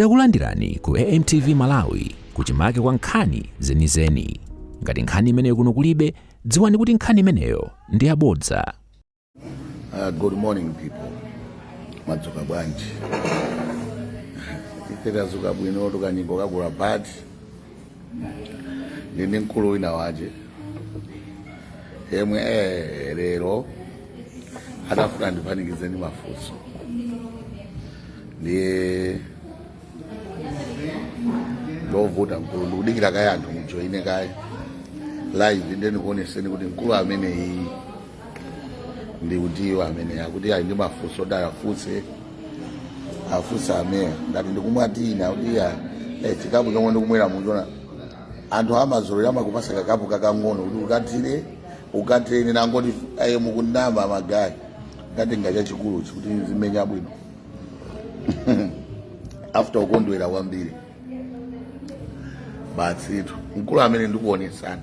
Takulandirani ku AMTV Malawi kuchimake kwa nkhani zenizeni. Ngati nkhani imeneyo kuno kulibe, dziwani kuti nkhani imeneyo ndi yabodza. Uh, good morning people. Madzuka bwanji. Ife tadzuka bwino tu kanyimbo kakula bad. ndili ndi mkulu wina wache yemwe eh, lero atafuna andipanikize ndi mafunso ndiye wovuta mkulu ndikudikira kaye anthu mujoine kaye live ndiye ndikuoneseni kuti mkulu ameneyi ndi utiyo amene akuti ali ndi mafunso kuti awafunse afunse ameya ndati ndikumwa tea nawo kuti ya eh, chikapu chomwe ndikumwera mukuona anthu amazolera amakupasa kakapu kakang'ono kuti ukathire ukathire nangoti aye mukunama magayi nkatenga chachikulu kuti zimenya bwino after ukondwera kwambiri basitu mkulu amene ndikuonetsani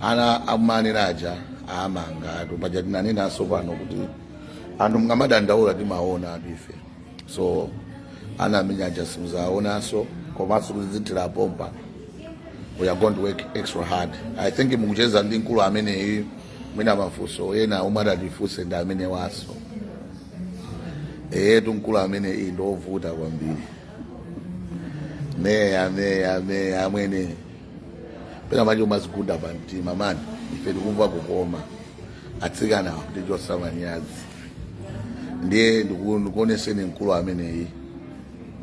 ana amanena aja amangati paja tinanenaso pano kuti anthu mukamadandaula timaonatu ife so ana amene aja simuzaonaso komanso kutizithira pompa we are going to work extra hard i think mukucheza ndi mkulu ameneyi mwina mafunso ena omwe atatifunse ndi amenewaso eyetu mkulu ameneyi ndiovuta kwambiri meya meya meya amwene pena matchi timazigunda pa mtima mani ife tikumva kukoma atsikana kutichosa manyazi ndiye ndiku- ndikuoneseni mkulu ameneyi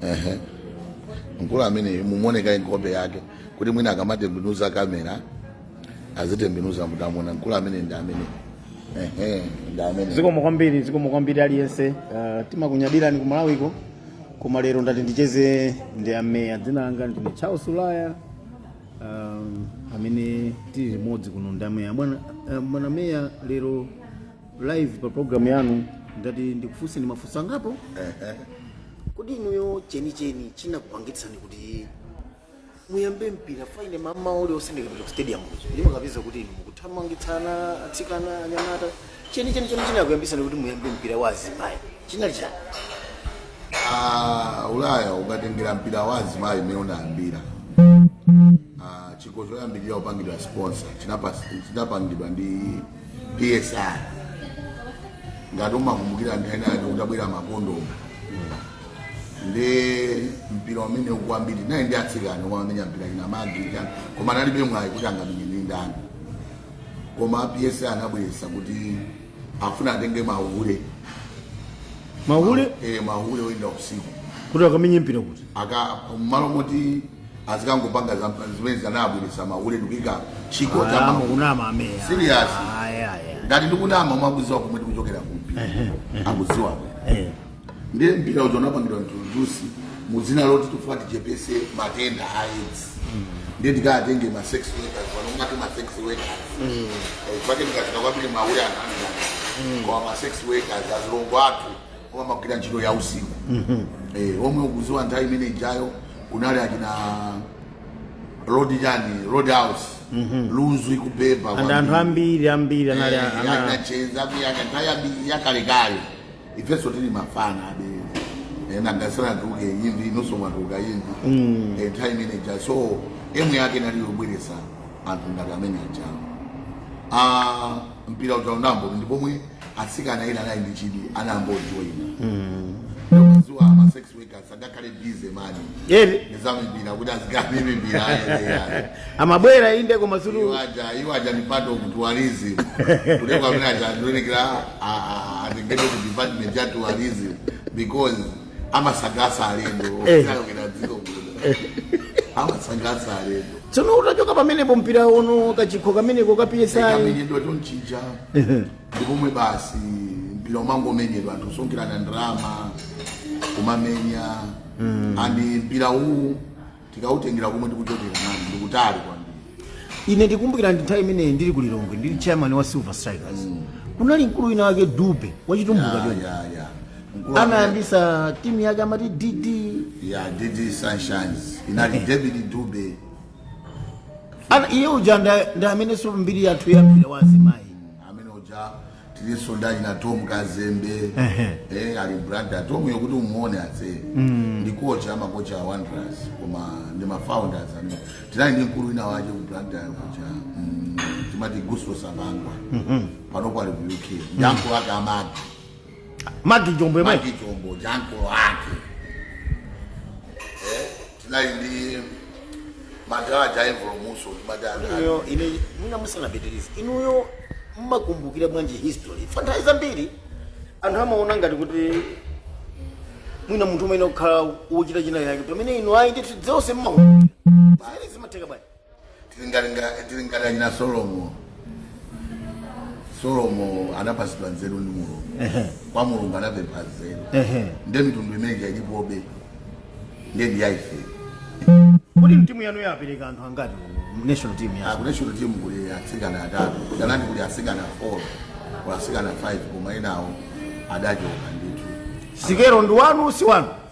ehe mkulu ameneyi muoneka nkhope yake kuti mwina akamatembenuza kamera azitembenuza mutamona mkulu ameneyi ndi amene ehe ndi amene zikomo kwambiri zikomo kwambiri aliyense uh, timakunyadirani ku malawiko koma lero ndati ndicheze ndi ameya dzina langa ndine charles ulaya um, amene tili limodzi kuno ndi ameya bwana eh, bwana meya lero live pa programu yanu ndati ndikufunseni mafunso angapo kodi inuyo chenicheni chinakupangitsani kuti muyambe mpira faine mama uli osendeka pa stadium kuja ndimakapeza kuti inu mukuthamangitsa atsikana anyamata cheni cheni cheni chinakuyambisani kuti muyambe mpira wa azimayi chinali chani Ah, ulaya ukatengera mpira wa azimayi imene unayambira Ah, chikho choyambirira kupangidwa sponsor chinapasi- chinapangidwa ndi psi ngati umakumbukira nthawi ina yake kutabwera makondomu ndi mpira umene kwambiri naye ndi atsikana omwe amenya mpira ina magi chani koma analibe mwayi kuti angamenye ndi ndani koma PSI anabweresa kuti afuna atenge mahule mahule eh mahule oyenda usiku kuti akamenye mpira kuti aka mmalo moti azikangopanga za- zimene zanabweresa mahule ndikuika chikho cha Ayamba mahule kunama ameya Serious. Ayi, ayi, ayi. ngati ndikunama mwakuziwa komwe ndikuchokera kumpira akuziwa Eh. ndiye mpira uja unapangidwa introduce mu dzina loti tifuna tichepese matenda a aids ndiye tikatenge ma sex workers pano ngati ma sex workers Eh, pake tikafika kwambiri mahule anamidana koma ma sex workers azilongo athu omwe amagwira ntchito ya usiku Eh, omwe ukuziwa nthawi imene ijayo kunali achina road chani road house lunzu ikubeba and anthu ambiri ambiri anali ana- anacheza kuyaka nthawi yakalekale ifenso tili mafana abale anga asanatuluke imvi inuso mwatuluka imvi mm. nthawi imene ija so aim yake nali yobweresa anthu ngati amene ajawo ah mpira uja utayamba ndi pomwe atsikana ena anali ndi chidwi anayamba kujoina mm. ziwa ma sex amabwera inde koma sulu iwo aja ndi part of tourism kuliko amene aja ndiofunikira atengedwe ku department ya tourism because amasangalasa alendo eh. okuyalukira dziko kuno amasangalasa alendo tsono utachoka pamenepo mpira uno kachikho kameneko ka PSI kamenyedwa tonchija ndi pomwe basi mpira umangomenyedwa anthu kusonkherana ndalama kumamenya and mpira uwu tikautengera komwe tikuchokera mani ndikutali kwambiri ine ndikumbukira ndi nthawi imeneyi ndili ku lilongwe ndili chairman wa silver strikers kunali mkulu wina wake dube wachitumbuka Ya, choncho ya, ya. Mkulu wake- amayambisa timu yake amati dd ya dd sunshines inali david dube Ana- iye uja nda- ndi amenenso mbiri yathu ya mpira wa azimayi amene uja tilinso ndi achina tom kazembe Ehe. eh, ali blantyre tom yokuti umuone atse ndi kocha amakocha a wanderers koma ndi mafounders amene tinali ndi mkulu wina wake ku blantyre kuja mm, timati gusto sabangwa panopo ali ku uk ndi uncle ake amagi magi chombo yemwe magi chombo ndi uncle ake tinali ndi madala aja aimvolomuso timadana Iyo, ine mwina musanapitirize inuyo mmakumbukira bwanji history fa nthawi zambiri anthu amaona ngati kuti mwina munthu umene kukhala wochita china chake pamene inu ayi ndithu zonse mmakumbukira zimatheka bwanji tili ngati nga- tili ngati achina solomo solomo anapatsidwa nzeru ndi mulungu Ehe. kwa mulungu anapempha nzeru Ehe. nde mitundu imene ilipoyi nde ndi yaife Kodi mtimu yanu yapereka anthu angati ku national team ya? a ku national team kuli atsikana atatu kenako kuli atsikana 4 kuli atsikana 5 koma enawo adachoka ndithu Sikero ndi wanu si wanu?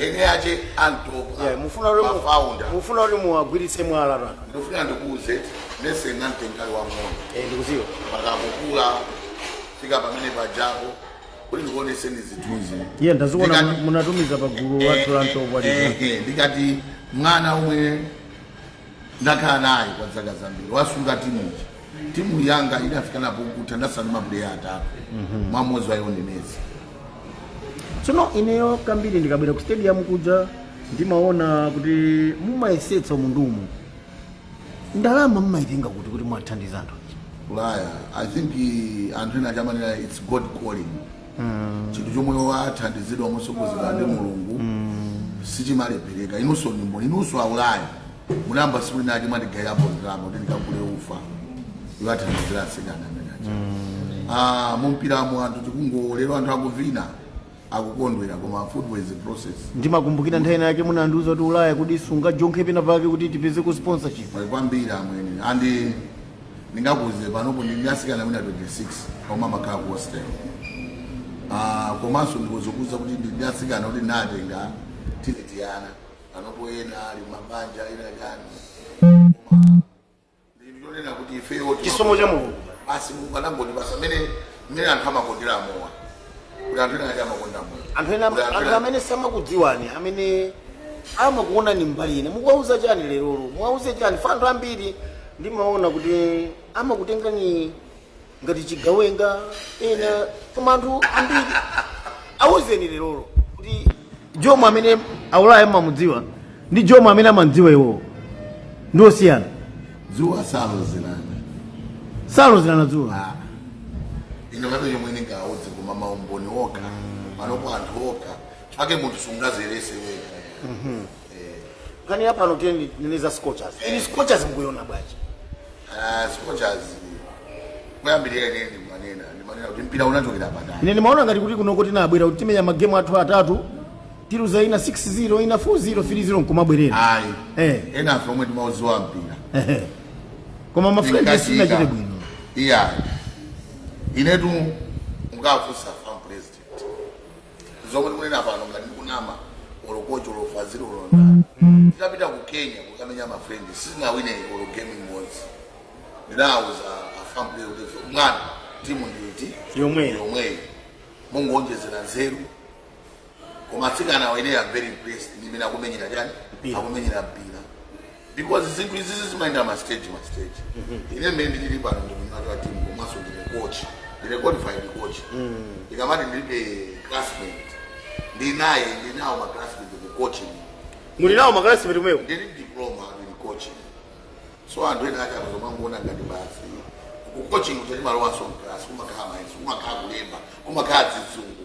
eni ake a Ntopwa Yeah, mufuna kuti mu- mafounder mufuna kuti muwagwiritse mwala pa ndofuna ndikuuze nese nantenkali wa mwana Eh, ndikuziwa pakakukula fika pamene pajapo kuti ndikuoneseni zithunzi iye ndaziona Ndikati- muna- munatumiza pa gulu wathu la Ntopwa Eh, eh, ndikati mwana omwe ndakhala naye kwa zaka zambiri wasunga timu ija timu yanga idafikanapo kutha ndatsala ndi mapuleya atatu mmodzi wa iwo ndi Vanessa tsono ineyo kambiri ndikabwera ku stadium kuja ndimaona kuti mumayesetsa umunthu umu ndalama mumayitenga kuti kuti mwathandiza anthu ulaya i think eh, anthu ena aja amanena its god calling chinthu chomwe wathandizidwa motsogozedwa ndi mulungu sichimalephereka inunso ndi mboni inunso aulayi mulamba tsiku linalake mwandigaira po ndalama kuti ndikagule ufa ndiwathandizire atsikana amene aja Ah, mumpiramo anthu tikungoona lero anthu akuvina akukondwera koma football is a process ndimakumbukira nthawi inayake munandiuza kuti ulaya kuti sungajonkhe pena pake kuti tipeze ko sponsorship muli kwambiri amwene andi ndingakuuze panopo ndili ndi atsikana mwina 26 koma amakhala ku hostel Ah, komanso ndikudzakuuza kuti ndi atsikana kuti ndinatenga tili tiana panopo ena ali m'mabanja ena chani koma ndikunena kuti ifeyo chisomo cha mulungu basi mulungu anangoti basa amene mmene anthu amakondera mowa kuti anthu ena ake amakonda mowa anthu ena Kuti anthu anthu ena- amene samakudziwani amene amakuonani mbali ina mukuwauza chani lerolo muwauze chani chifukwa anthu ambiri ndimaona kuti amakutengani ngati chigawenga ena koma anthu ambiri auzeni lerolo kuti jomo amene aulaya mmamudziwa ndi jomo amene amamdziwa iwowo ndi osiyana dzuwa salozerana salozerana dzuwa Ah. ine pano chomwe ndingauze koma maumboni okha panopo anthu okha chake munthu sungadziyeretse wekha pa nkhani yapa anoteni nini za scorchers iyi scorchers mkuiona bwanji Ah, scorchers kuyambirira ine ndimanena ndimanena kuti mpira wachokera patali ine ndimaona ngati kuti kunoko tinabwera kuti timenya magemu athu atatu tiluza ina 6-0 ina 4-0 3-0 nkumabwerera ayi Eh. enanso omwe timauziwa mpira Ehe. koma ma friendly sinachite bwino iya inetu mungafunse fam president zomwe ndikunena pano ngati ndikunama olo kocho olo fazili olo ndani titapita ku kenya kukamenya mafrendi sitinawine olo game imodzi ndinawuza afample kuti mwana timu nditi Yomweyo. yomweyo mungonjezera nzeru koma atsikanawa ine am very impressed ndimene akumenyera chani Mpira. akumenyera mpira because zinthu izizi zimayenda ma stage ma stage ine mmene ndili pano ndi mwini wa timu komanso ndine coach ndine qualified coach ndikamati ndilibe classmate ndinaye ndinawo ma classmate mu coaching muli nawo ma classmate komweko ndili diploma in coaching so anthu ena aja kuzimangoona ngati basi ku coaching kuti timalowanso mclass kumakhala mayeso kumakhala kulemba kumakhala zizungu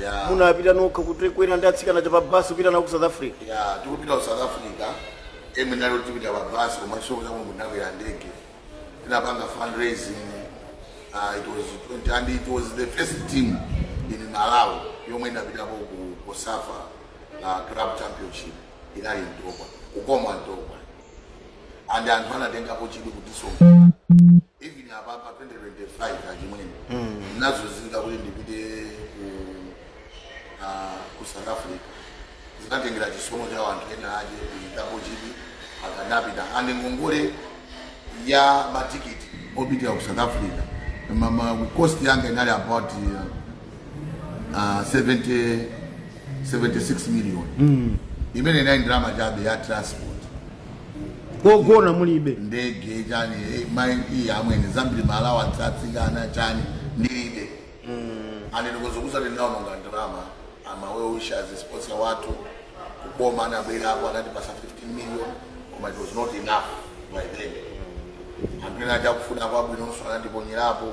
Yeah. munapita nokha kukwera ndi atsikana aja pa basi kupita nawo ku south africa ya tikupita ku south africa amwene inali yoti tipita pa basi koma chifukwa cha mulungu tinakwera ndege tinapanga fundraising uh, it was 20, and it was the first team in malawi yomwe inapitapo ku cosafa uh, club championship inali ntopwa kukoma ntopwa and anthu anatengapo chidwi kutisonkhera even apapa 2025 achimwene nazunzika kuti ndipite ku ah, ku south africa zinatengera chisomo cha wanthu ena aja kuikapo chidwi atsikana apita and ngongole ya matikiti opitira ku south africa mama cost yanga inali about uh, ah, 70 76 million imene inali ndalama chabe ya transport kogona mulibe ndege chani eh, mai iyi amwene zambiri ma allowance a atsikana chani ndilibe amwene ndikuzokuuza kuti ndawononga ndalama ma well wishers sponsor wathu kuboma anabwerapo anatipasa 15 million koma it was not enough by then anthu ena aja akufuna kwabwinonso anatiponyerapo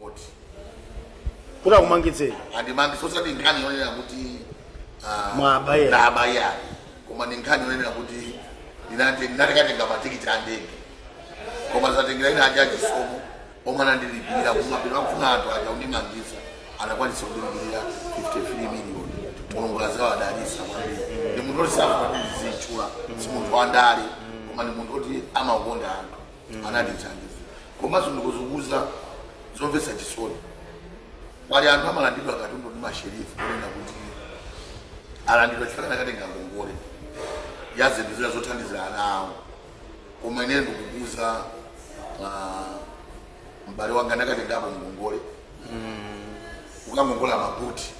khoti kuti akumangitseni andimangitsa osati nkhani yonena kuti ah, Mwaba ayi. ndaba ayi koma ndi nkhani yonena kuti ndinati- ndinakatenga matikiti a ndege koma zatengera ena aja achisomo omwe anandilipirira kumapeto akufuna anthu aja kundimangitsa anakwanisa kundilipirira 53 million mulungu azawadalisa kwambiri ndi munthu oti safuna kuzitchula si munthu wandale koma ndi munthu oti amakonda anthu anatithandiza komanso ndikuzokuuza zomvetsa chisoni pali anthu amalandidwa katundu ndi masherifu kunena kuti alandidwa chifukwa anakatenga ngongole ya zinthu zina zothandizira ana awo koma ine ndikukuuza ah, m'bale wanga ndakatengapo ngongole kukangongola mabuti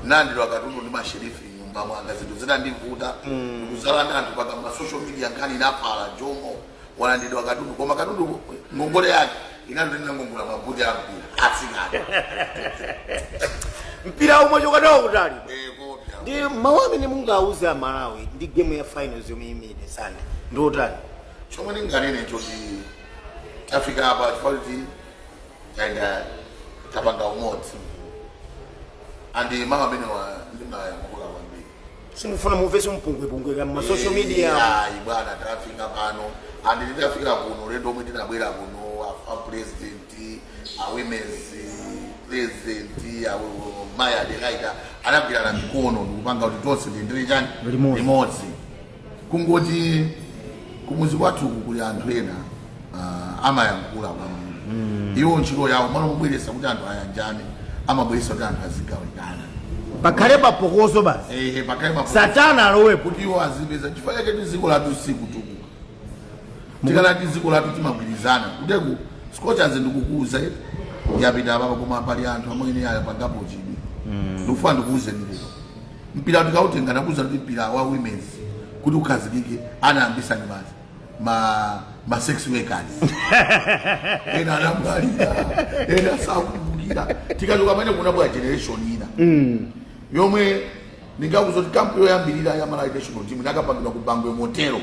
nalandidwa katundu ndi masherifu mnyumba mwanga zinthu zinandivuta kuzala ndi anthu paka ma social media nkhani inafala jomo walandidwa katundu koma katundu ngongole yake inali tinangongola mabuti a mpira atsikana mpira umachoka nawo kutali eh kopya ndi mawu amene mungauze amalawi ndi gemu ya finals yomwe imenyedwe sande ndi otani chomwe ndinganene nchoti tafika apa chifukwa taenda tapanga umodzi andi mawu amenewa ndimayankhula kwambiri simufuna mumvese mpungwepungweka mmasocial media ayi bwana tafika pano andi titafika kuno ulendo omwe tinabwera kuno a- a president a women's president a wo- mayi adekaita tinagwirana mikono ndikupanga kuti tonse tichite chani Limodzi. limodzi kungoti kumuzi kwathuku kuli anthu ena uh, amayankhula kwambiri iwo ntchito yawo malo mobweresa kuti anthu ayanjane amabweresa kuti anthu azigawikana pakhale papokoso basi eh, pakhale papokoso satana alowepo kuti iwo azipeza chifukwa chake dziko lathu silikutukuka tikanati dziko lathu timagwirizana kuteteku scorchers ndikukuuzani yapita apapa koma pali anthu amene ayapangapo chidwi mm. ndikufuna ndikuuzeni lero mpira tikautenga ndakuuzani kuti mpira wa women's kuti ukhazikike anayambisa ndi basi ma ma sex workers ena anamwalira ena sakumbukira tikachoka pamenepo kunabwera generation ina mm. yomwe ndingakuuzeni kuti kampu yoyambirira ya malawi national team inakapangidwa ku bangwe motelo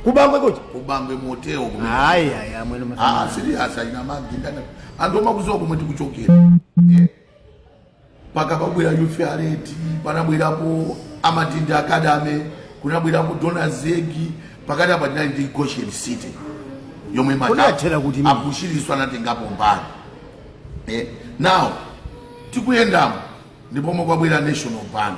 kubangwe kuti ku bangwe motelo kumene hayi hayi amwene Ah, serious ayina magi ndana anthu samakuziwa komwe tikuchokera Eh? mpaka pakubwera yufi aleti panabwerapo amatindi academy kunabwerapo donors egg pakati apa tinali ndi goshen city yomwe mata- Kunathera kuti mimi. a bushirinso anatengapo mbali eh, now tikuyendamo ndipomwe kwabwera national bank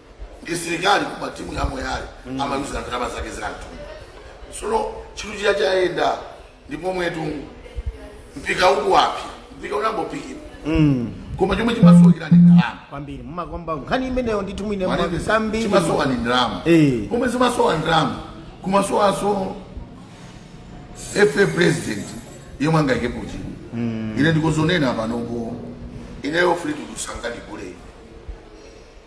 msilikali koma timu ya moyale amayuza ndalama zake za mtundu sono chinthu chija chayenda ndipo mwetu mpira ukuwa mpira unali kumbuyo koma chomwe chimasowekera ndi ndalama kwambiri mumakomba nkhani imeneyo ndithu mwine kwambiri chimasowa ndi ndalama Eh. pomwe zimasowa ndalama kumasowanso fa president yemwe angaikepo chidwi ine ndikuzonena panopo ineyo free kusangalalatu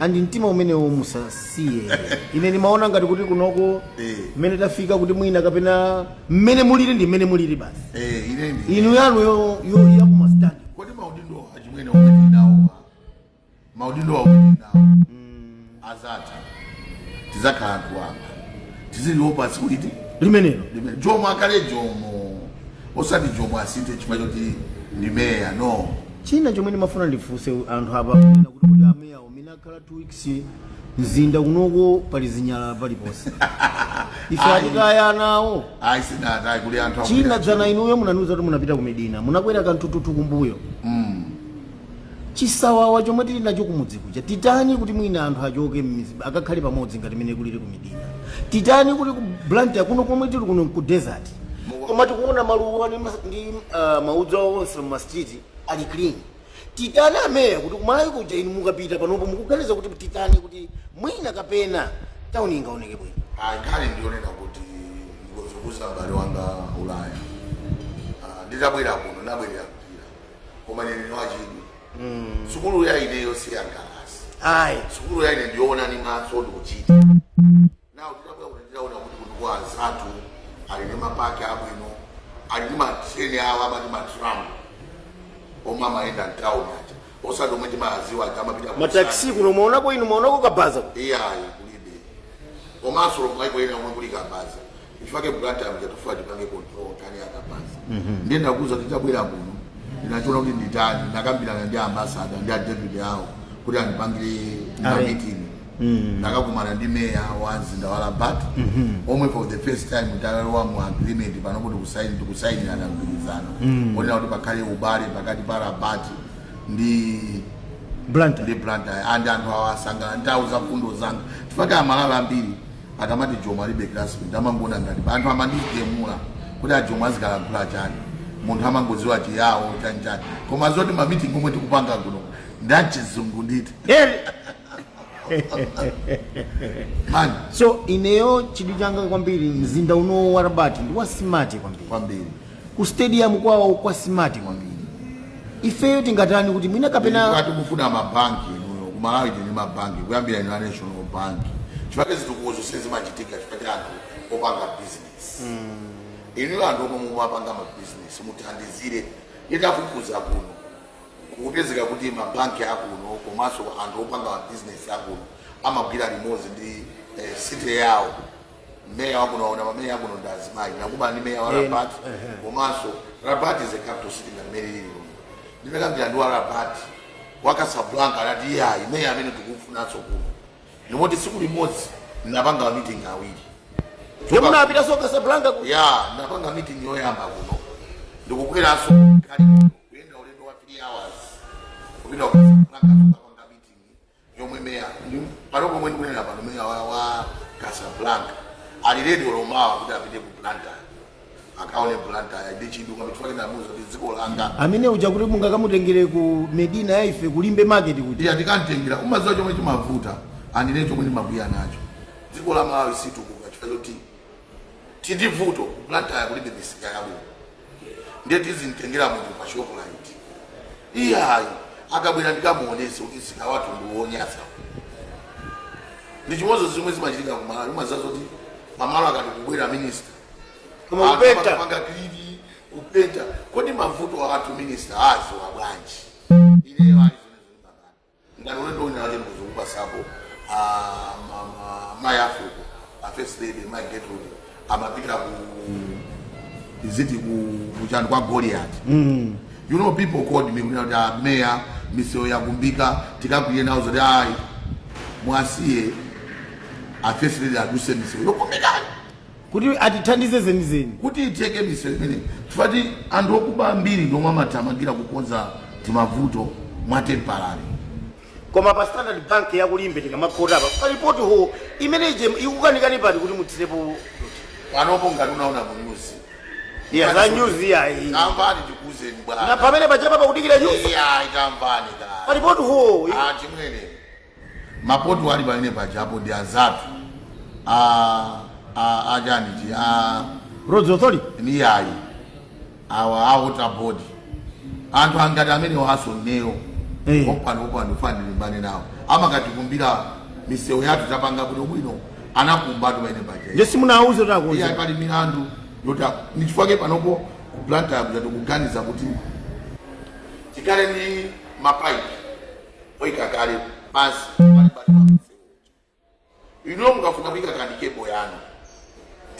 and mtima umenewo musasiye ine ndimaona ngati kuti kunoko Eh. mmene tafika kuti mwina kapena mmene mulili ndi mmene mulili basi Eh, inu yanu yo- yo- yakumastandi kodi maudindo achimwene omwe tinawo maudindo omwe tinawo azatha tizakhala anthu wamba tiziliopa tsiku limenelo jomo akhale jomo osati jomo asinthe chifukwa choti ndi meya no china chomwe ndimafuna ndifunse anthu apa ena kuti kuti ameya umene akhala 2 weeks mzinda kunoko pali zinyalala paliponse ife ayi akutaya anawo sinatayi kuli anthu china dzana inuyo munandiuza kuti munapita ku medina munakwera kanthuthuthu kumbuyo chisawawa chomwe tili nacho kumudzi kuja titani kuti mwina anthu achoke m'midzi akakhale pamodzi ngati mene kulili ku medina titani kuti ku blantyre kuno komwe tili kuno ku desert koma tikuona maluwa ndi mas- ndi ah, maudzu awo onse mu street ali clean titani ameya kuti kumalawi kuja inu mukapita panopo mukuganiza kuti titani kuti mwina kapena tauni ingaoneke bwino Ah, nkhani ndiyonena kuti ndikuzokuuza mbale wanga ulaya Ah, nditabwera kuno ndabwelera mpira koma ine ndiwachidwi sukulu ya ineyo siyangalasi ayi sukulu ya ine ndiyoona ni maso ndikuchita nawo nditaona kuti kuno anzathu ali ndi mapaki abwino ali ndi matreni awo amati matramu omwe amayenda mtawuni aja osati omwe timadziwa aja amapita ku mataxi kuno mwaonako inu mwaonako kabaza iyayi kulibe komanso lomwe ayikoyena omwe kuli kabaza Chifake Blantyre muja tikufuna tipange control nkhani ya kabaza. Ndiye ndakuuza kuti nditabwera kuno. Ndinachoka kuti nditani ndakambirana ndi ambassador ndi a deputy awo kuti andipangire meeting. Ndakakumana ndi meya wa mzinda wa Rabat omwe for the first time talowa mu agreement panopo tikusaini tikusainirana mgwirizano. Onena kuti pakhale ubale pakati pa Rabat ndi Blantyre and anthu asangalala nazo za mfundo zanga chifake amalawi ambiri akamati jomo alibe classmate amangoona ngati anthu amandigemula kuti ajomo azikalankhula chani munthu amangodziwa chiyawo chanichani koma zoti mamitingi omwe tikupanga kuno ndachizungu nditu man so ineyo chidwi changa kwambiri mzinda uno wa rabat ndi wasimati kwambiri kwambiri ku stadium kwawo kwa smart kwambiri ifeyo tingatani kuti mwina kapena tikufuna mabanki inuyo ku malawi tili ndi mabanki kuyambira ina national bank chifake zitukukozo sizimachitika chifake anthu opanga business inuyo anthu omwe mumapanga ma business mutithandizire nditafufuza kuno kukupezeka kuti mabanki akuno komanso anthu opanga ma business akuno amagwira limodzi ndi eh, city yawo meya wakuno mwaona mameya akuno ndi azimayi ndakumana ndi meya wa Eh, rabat ehe. komanso rabat is a capital city ngati mmene ili lomwe ndinakambirana ndi wa rabat wa casablanca anati iyayi meya amene tikufunanso kuno ndi moti tsiku limodzi ndinapanga ma meeting awiri Ndipo munapitanso Casablanca ku. ya ndinapanga meeting yoyamba kuno ndikukweranso kali kuyenda ulendo wa 3 hours kupita ku Casablanca yomwe meya pano pomwe ndikunena pano meya wa, wa casablanca ali ready olo mawa kuti apite ku blantyre akaone blantyre ndi chidwi kwambiri chifukwa choti ndinamuuza za dziko langa amene uja kuti mungakamutengere ku medina ya ife kulimbe market kuti ndiye ndikantengera umaziwa chomwe chimavuta andine chomwe ndimakwiya nacho dziko la malawi silitukuka chifukwa choti tindivuto blantyre kulibe misika yabwino ndiye tizimtengera munthu pa shoprite iyayi akabwera ndikamuonese kuti msika wathu ndiwonyasa ndi chimodzimodzi zomwe zimachitika ku malawi umadziwa zoti pamalo akati kubwera minista Koma Anthu kupenta. amapanga clean kupenta kodi mavuto athu minista adziwa bwanji ineyo ali ngati ulendo wina wake ndikuzikupasapo mayi a fuko a first lady mayi getrude amapita ku East ku kuchani kwa goliati you know people called me kunena kuti "Ah, meya misewu yakumbika tikakwirire ndinawauza kuti ayi mwasiye a first lady aduse misewu yokumbikayo kuti atithandize zenizeni. Kuti itheke misewu imeneyi chifukwa ti anthu okuba ambiri ndi omwe amathamangira kukonza timavuto mwa temporary. Koma pa standard bank ya ku limbe tikamakhota apa pali pot hole imene ije ikukanikani pati kuti mutsirepo Panopo ngati unaona mu news. ya za news yayi Tamvani tikuuzeni bwana. pamene pachapa pakudikira news Iya, tamvani ka. pali pot hole Achimwene. Ma pot hole ali pamene paja apo ndi azathu a a a chani chi a Roads Authority? iyayi awa a water board anthu anga amenewonso ineyo Eh. pano pano ndikufuna ndilimbane nawo amakonda kutikumbira misewu yathu tapanga bwino bwino anakumbatu pamene paja Nde simunawauze kuti iye akonze. pali milandu yoti nchifukwa chake panopo ku Blantyre kuja tikuganiza kuti tikhale ndi mapaipi oyika kale pansi m'mbali mwa msewu uja inuyo mukafuna kuyika kanthu cable yanu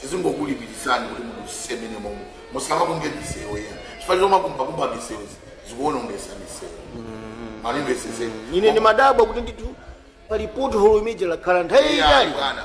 tizingokulipiritsani kuti mudutse mmenemomo musamakumbe misewu yathu chifukwa chomakumbakumba misewu zikuonongetsa misewu mu Limbe monse ine ndimadabwa kuti ndithu pali pot hole imene ija yakhala nthawi yaitali bwana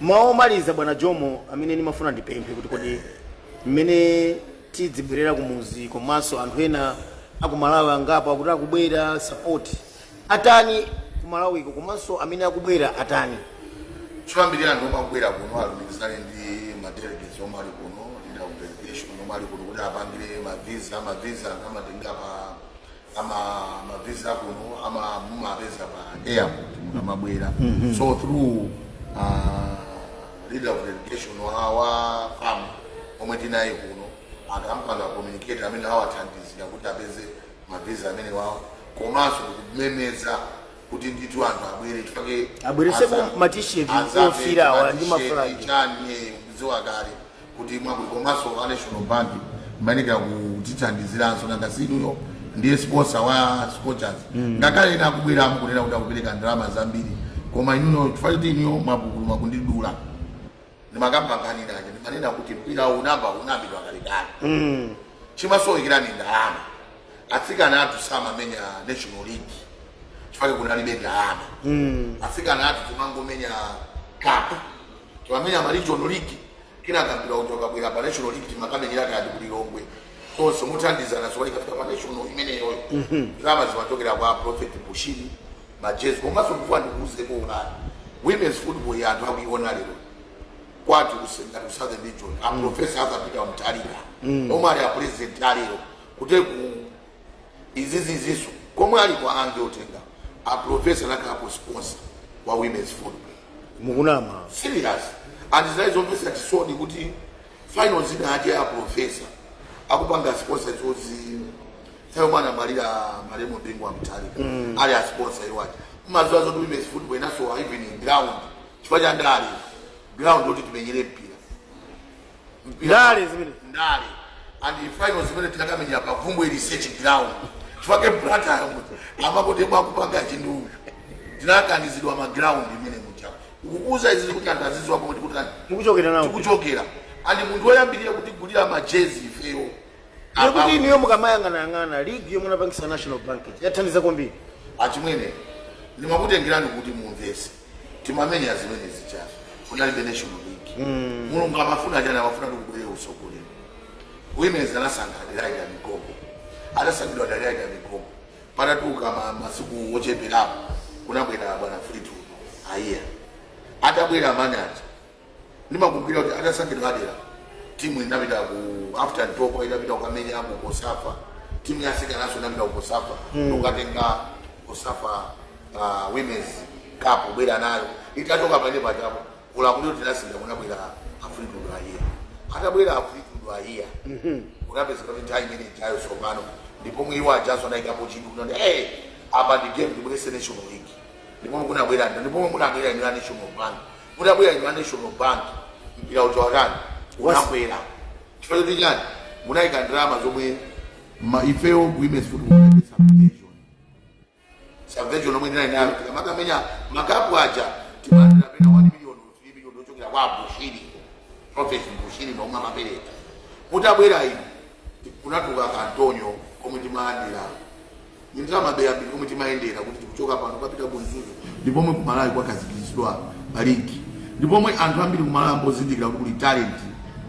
mawu omaliza bwana jomo amene ndimafuna ndipemphe kuti kodi mmene tidzibwerera kumuzi komanso anthu ena akumalawi angapo akuti akubwera support atani kumalawiko komanso amene akubwera atani choyambirira anthu omwe akubwera kuno alumikizane ndi madelegates omwe ali kuno ndi a delegation omwe ali kuno kuti apangire mavisa mavisa anthu amatenga pa ama mavisa kuno ama mumapeza pa airport mukamabwera so through uh, leader of delegation wawa fam omwe tinayi kuno akampanga communicate amene awathandizira kuti apeze mavisa amene wawo komanso kumemeza kuti ndithu anthu abwere chifake abweretsepo ma t-shirt ofira awa ndi maflag chani kudziwa kale kuti mwakuti komanso a national bank amayenekera kutithandiziranso nanga si inuyo ndiye sponsor wa scorchers ngakhale ena akubwera mukunena kuti akupereka ndalama zambiri koma inuyo chifukwa choti inuyo mwapupuluma kundidula ndimakapambanira aja ndimanena kuti mpira unamba unambidwa kalekale chimasowekera ndi ndalama atsikana athu samamenya national league chifake kunalibe ndalama atsikana athu timangomenya cup timamenya ma regional league kenaka mpira uja ukabwera pa national league timakamenyera kaya ku lilongwe konso mothandizana zoti ikafika pa national imeneyoyo ndalama zimachokera kwa prophet bushiri majezi komanso kufuna ndikuuze kuti women's football ya anthu akuiona lero kwati kusenga ku southern region a professor arthur peter mutharika omwe ali a president alero kuti ku iziziziso komwe ali kwa ange otenga a professor nakhalako sponsor wa women's football mukunama serious and zinali zomvetsa chisoni kuti finals zinazake a profesa akupanga sponsor chozi thayo mwana malira malemu bingu wa mutharika ali a sponsor iwe umadziwa zoti women's football inasowa even ndi ground chifukwa cha ndale ground yoti timenyere mpira ndale ndale and finals zimene tinakamenyera pa bvumbwe research ground chifake blantyre amakoti bwakupanga chinduyu tinakanizidwa ma ground imene muja ukukuza izi kuti anthu aziziwa pomwe tikutani mukuchokera nawo tikuchokera and munthu woyambirira kutigulira majezi ifeyo kuti inuyo mukamayang'anayang'ana ligi yomwe anapangisa national bank yathandiza kwambiri achimwene ndimakutengerani kuti mumvese timamenya zimene zijazo kunalibe national league mm. mulungu amafuna chani amafuna kuti kubwere usogolero women's anasankha adelaide migogo atasankhidwa adelaide migogo patadutsa masiku ocheperapo kunabwera bwana fleetwood haiya atabwera man aja Ndimakumbukira kuti atasankhidwa Adelaide, timu inapita ku after Ntopwa itapita kukamenya ku Cosafa, timu ya asikananso inapita ku Cosafa kukatenga Cosafa uh, Women's Cup kubwera nayo. Itachoka pamene pajapo ulamulo tinasintha kunabwera a Fleetwood Haiya. Atabwera a Fleetwood Haiya kunapeza kuti nthawi imene ijayo tsopano ndipo mwiwo ajaso anayikapo chidwi kunati hey, apa ndi game ndibweretse National League ndipo munabwera ndi ndipo munabwera ndi national bank munabwera ndi national bank mpira uja utani unakwera chifukwa choti chani munayika ndalama zomwe ifeyo ku women's football munayika subvention subvention yomwe tinali nayo tikamakamenya makapu aja timalandira pena 1 million 3 million yochokera kwa Abushiri, Prophet Bushiri ndi omwe amapereka. Mutabwera inu kunatuluka ka Antonio komwe timalandira. Ndi ndalama ya beya ndi komwe timayendera kuti tikuchoka pano tikupita ku Mzuzu. Ndi pomwe ku Malawi kwakhazikitsidwa pa ligi. Ndi pomwe anthu ambiri ku Malawi ayamba kuzindikira kuti kuli talent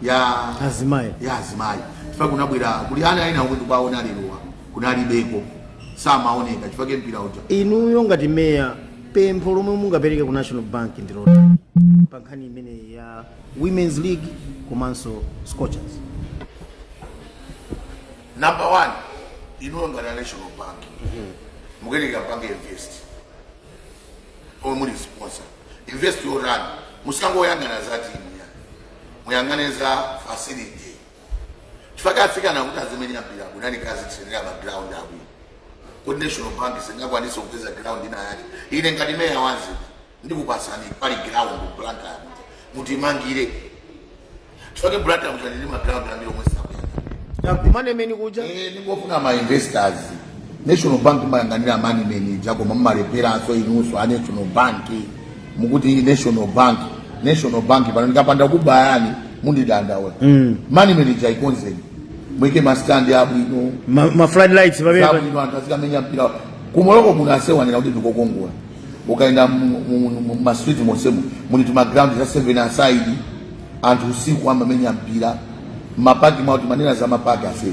ya Azimayi. ya azimayi. Chifukwa kunabwera kuli ana ena omwe tikuwaona lerowa kunalibeko samaoneka chifukwa mpira uja. Inuyo ngati meya Pempho lomwe mungapereke ku National Bank ndi lotani pa nkhani imeneyi ya Women's League komanso Scorchers? Number one, inuyo ngati a National Bank mukuyenera mupange invest omwe muli sponsor invest yotani musangoyang'ana za timu ayi muyang'ane za facility chifukwa atsikana kuti azimenyera mpira kuno aakazi tiyenera ma ground abwino kuti national bank singakwanisa kupeza ground ina yake ine ngati meya wamzinda ndikupatsani pali ground blantyre mutimangire chifukwa blantyre kuli ndi ma ground ambiri omwe sakuyenda akumanemeni kuja Eh, ndingofuna ma investors national bank mumayang'anira Moneymen ija koma mumaleperanso inunso a national bank mukuti national bank national bank pano ndikapanda kubayani mundidandaulitsa mm. Moneymen ija ikonzeni muike mastandi abwino ma, ma flood lights pamene abwino anthu azikamenya mpira ku Morocco kunasewenzera kuti ndikokongola ukaenda mu- mu- mu- mu- ma street monsemo muli timagraundi za seven aside anthu usiku amamenya mpira mapaki muja timanena za mapaki athu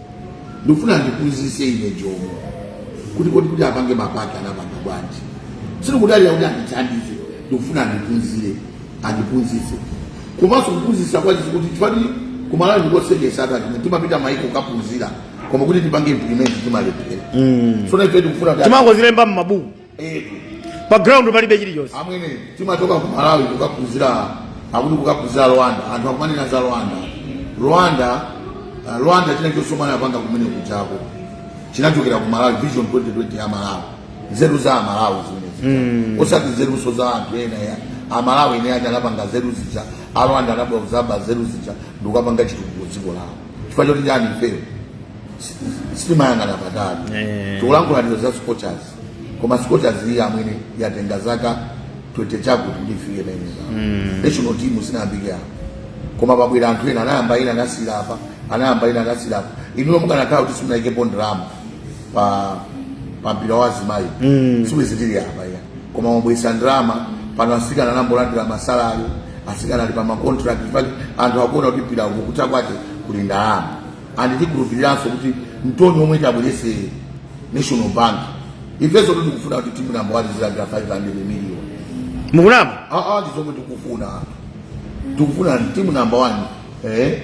ndikufuna andiphunzitse ine jomo kuti kodi kuti apange mapaki anapanga bwanji sindikudalira kuti andithandize ndikufuna ndiphunzire andiphunzitse komanso kuphunzitsa kwake si kuti chifukwa ku Malawi n'koseketsa a that timapita maiko kukaphunzira koma kuti tipange implement timalephera mm. so nafe tikufuna kuti timangozilemba mmabuku pa ground palibe chilichonse amwene timachoka ku malawi kukaphunzira akuti kukaphunzira rwanda anthu akumanena za rwanda rwanda uh, rwanda china chilichonse chomwe anapanga kumene kujako chinachokera ku malawi vision 2020 ya malawi nzeru za amalawi zimenezi osati nzerunso za anthu ena ya amalawi eni aja anapanga nzeru zija arwanda anabwera kudzaba nzeru zija ndikukapanga chitukuko dziko lawo chifukwa choti chani ifeyo sitimayang'ana patali tikulankhula izi za scorchers koma scorchers iyi achimwene yatenga zaka 20 chakuti ndifike pamene mm. national team sinayambike apo koma pabwera anthu ena anayamba ena anasira apa anayamba ena anasira apa inuyo mukanakhala kuti simunayikepo ndalama pa pa mpira wa azimayi mm. siwizitiri apa ya koma mwabweretsa ndalama pano asikana ayamba kulandira masalari asikana ali pa makontrakt anthu akuona kuti mpira uku kutha kwake kuli ndalama and tikhulupiriranso kuti mthoni womwe tabweretsa national bank ifenso kuti tikufuna kuti timu namba wani zilandira 500 million mukunama aa ah, ah, ndi zomwe tikufuna tikufuna timu namba wani eh,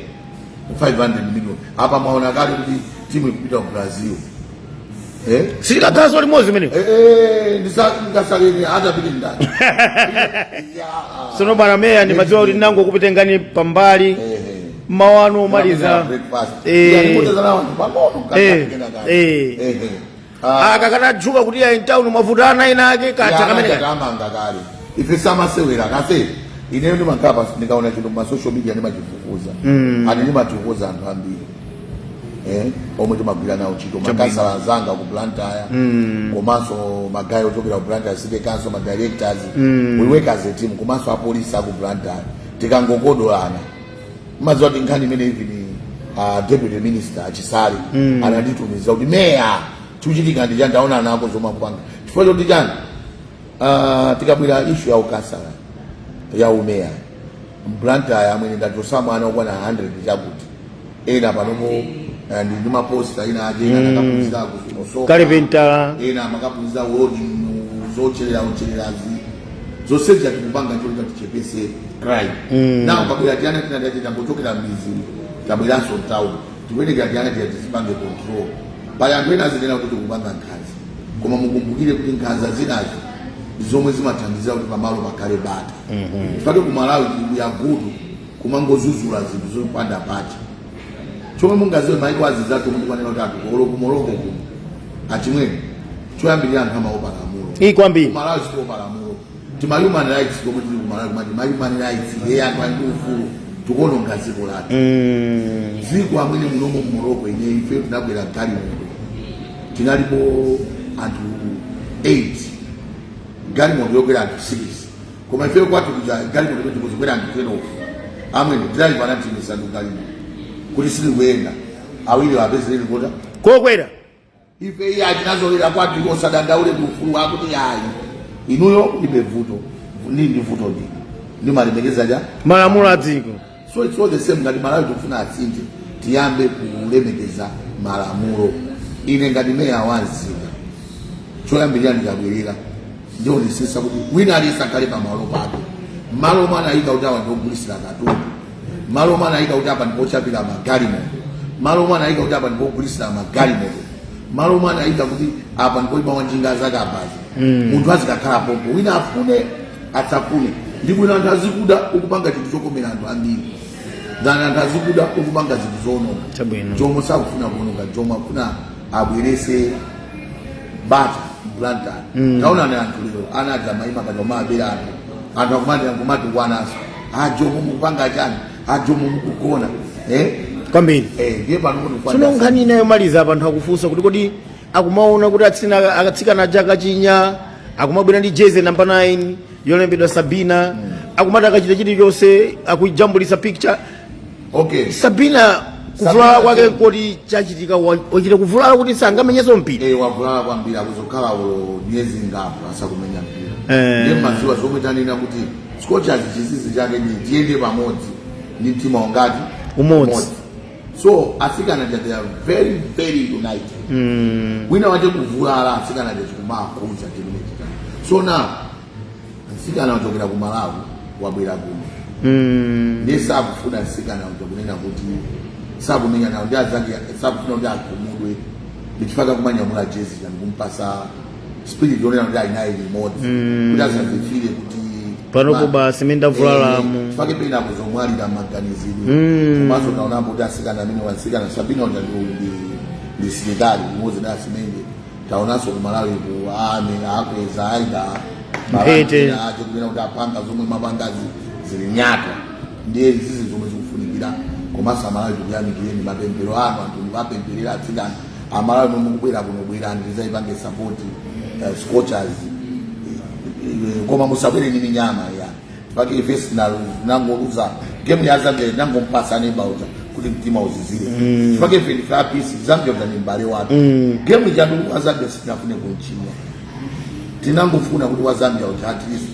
500 million apa mwaona kale kuti timu ikupita ku brazil eh? si likagazo limodzi imeneyo eh, eh, ndisakaleni hata pili ndani tsono bwana meya ndimadziwa kuti ndinangokupitengani pambali eh, eh. mawu anu omaliza akakanatchuka kuti ayi mtawuni mwavuta ana ena ake kacha kamene amanga kale ife samasewera kase ineyo ndimakhala pansi ndikaona chinthu ma social media ndimachifufuza mm. and ndimathokoza anthu ambiri eh, omwe timagwira nawo ntchito makhansala anzanga ku Blantyre mm. komanso magayi ochokera ku Blantyre city council ma directors mm. we work as a team komanso apolisi aku Blantyre tikangokodolana timadziwa kuti nkhani imene even uh, deputy minister a Chisale mm. ananditumiza kuti meya chikuchitika ndi chani taona nako zomwe akupanga chifukwa choti chani uh, tikabwera ishu ya ukhansala ya umeya mblantyre amene ndachotsa ma ana okwana 100 chakuti ena panopo eh, ndi ndi maposta ena ake ena akaphunzira kusoka ukalipentala ena amakaphunzira uwelodi zocherera uchererazi zonse zija tikupanga choti tichepetse crime Mm. nawo akabwera tiana tinatati tangochokera mmidzi tabweranso mtown tikuyenekera tiana tija tizipanga control pali anthu ena azinena kuti tikupanga nkhanza koma mukumbukire kuti nkhanza zinazo ndi zomwe zimathandizira kuti pamalo pakhale bata pake ku malawi tikuyagudu kumangozuzula zinthu zopanda pake chomwe mungadziwe maiko anzathu kuti kwanena kuti anthu olo ku Morocco kuno achimwene choyambirira anthu amaopa lamulo iyi kwambiri kumalawi sakuopa lamulo tima human rights komwe tili kumalawi kumati ma human rights ye anthu ali ndi ufulu tikuononga dziko lathu Mm. dziko amene munomo mu Morocco ine ife tinabwera galimoto tinalipo anthu 8 galimoto yokwera anthu 6 koma ifeyo kwathu kuja galimoto kuti kudzikwera anthu twenofu amwene driver anatiimitsa ndi galimoto kuti silikuyenda awiri apezere lifiti yokwera ife iya tinazolowera kwathu osadandaule ndi ufulu wako kuti ayi ineyo ndilibe vuto ndi ndi vuto ndi ndimalemekeza chani malamulo a dziko so it's all the same ngati malawi tikufuna asinthe tiyambe kulemekeza malamulo ine ngati meya wa mzinda choyambirira ndikabwerera ndionesesa kuti wina aliyense akhale pamalo pake malo omwe anayika kuti awa ndiogulisira katundu malo omwe anayika kuti apa ndipochapira magalimoto malo omwe anayika kuti apa ndipogulisira magalimoto malo omwe anayika kuti apa ndipoima wanjinga zakabaza munthu azikakhala pompo wina afune asafune ndi bwino anthu azikuda ukupanga chinthu chokomera anthu ambiri than anthu azikuda ukupanga zinthu zoononga Chabwino. Jomo sakufuna kuononga Jomo akufuna abwerese bata m'Blantyre taonani anthu lero ana aja amayima paja omabera anthu anthu akumati akumati wanaso a Jomo mukupanga chani a Jomo mukugona eh kwambiri eh ndiye pano kuti sono nkhani ina yomaliza apa anthu akufunsa kuti kodi akumaona kuti atsina akatsikana aja akachinya akumabwera ndi jezi namba 9 yolembedwa sabina akumati akachita chilichonse akujambulisa picture okay sabina kuvulala Sabina kwake Chembo. kodi chachitika wa- wachita kuvulala kuti sangamenyeso mpira Eh, wavulala kwambiri akhoza kukhala ulo miyezi ingapo asakumenya mpira Eh. ndiye maziwa zomwe tanena kuti scorchers chinsinsi chake ndi tiyende pamodzi ndi mtima ungati Umodzi. so atsikana aja they are very very united mm. wina wachita kuvulala atsikana aja chikumawakhudza chimene chitani so now mtsikana wachokera ku malawi wabwera kuno mm. ndiye sakufuna mtsikana uja kunena kuti sakumenya nawo ndi anzake sakufuna kuti akhumudwe ndichifukwa akumanyamula jezi ija ndikumpasa spirit yonena kuti ali naye limodzi kuti asazifile kuti panopa basi mmene ndavulalamu. Eh, chifukwa pena akhoza kumwalira maganizidwe komanso taonapo kuti asikana amene wasikana sabina uja ndi- ndi ndi msilikali limodzi ndi asimenye taonanso kumalawi ku army akweza aida Mphete. ache kunena kuti apanga zomwe mapangazi zili nyatwa ndiye zizi zomwe zikufunikira komanso amalawi tikuyamikireni mapemphero anu anthu mukuwapempherera atsikana amalawi omwe mukubwera kuno bwerani tidzaipange sapoti uh, scorchers Eh, koma musabwere ndi minyama ya pake ife tinangoluza gemu ya zambia tinangompasa neba uja kuti mtima uzizire pake ife ndife a peace zambia ngati mbale wake gemu chandu wa zambia sitinafune kunchinya tinangofuna kuti wa zambia uja at least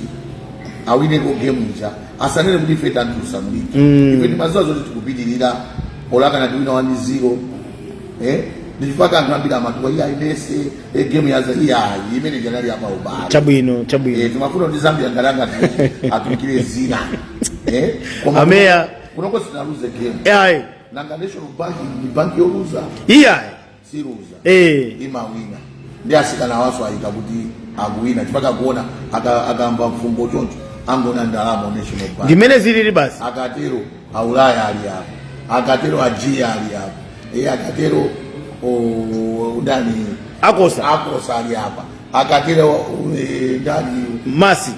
awineko gemu ija asanene kuti ife tandiusamuliki ife timaziwa zoti tikupitirira olakana tiwina wani zero eh ndichifukwa anthu ambiri matuwa iya imese e eh, game ya zambia imene ija inali ya pa ubale chabwino chabwino eh timafuna kuti zambia ngalanga atukire zina eh koma ameya kunoko sitinaluze game eh nanga national bank ni bank yoluza iya siluza eh imawina ndi asikana waso ayita kuti akuwina chifukwa akuona akumva fungo choncho akuona ndalama national bank ndimene zilili basi akatero aulaya ali apo akatero ajiya ali apo e akatero o- ndani akosa akosa ali apa akatero o- e, ndani masi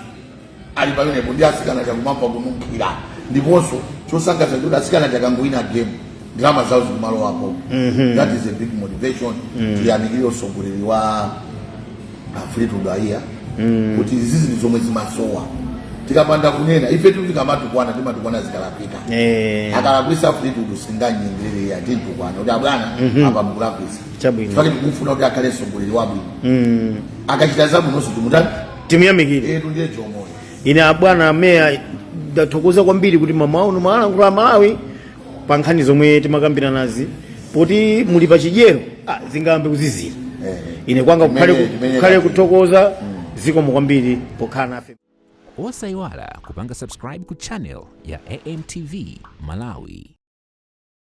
ali pamenepo ndiye atsikana akumamva kununkhira ndiponso chosangalatsa kuti atsikana akangowina game ndalama zawo zikumalowapo that is a big motivation tiyamikire utsogoleri wa a Fleetwood Haiya kuti izi zinthu zomwe zimasowa tikapanda kunena ife tu tikamatukwana timatukwana zikalakwika Eh. akalakwisa Fleetwood sindingamunyengerere iya ndimtukwana kuti abwana apa mukulakwisa Chabwino. chifukwa ndikufuna kuti akhale mtsogoleri wabwino Mm. akachita zabwinonso timutani timuyamikire etu ndiye chomoyo ine abwana a meya ndathokoza kwambiri kuti mmawa uno mwalankhula a Malawi pa nkhani zomwe timakambiranazi poti muli pa chidyerero ah, zingayambe kuzizira Eh. ine kwanga Imene- kukhale ku- imene kukhale tati. kuthokoza zikomo kwambiri pokhala nafe osayiwala kupanga subscribe ku channel ya amtv malawi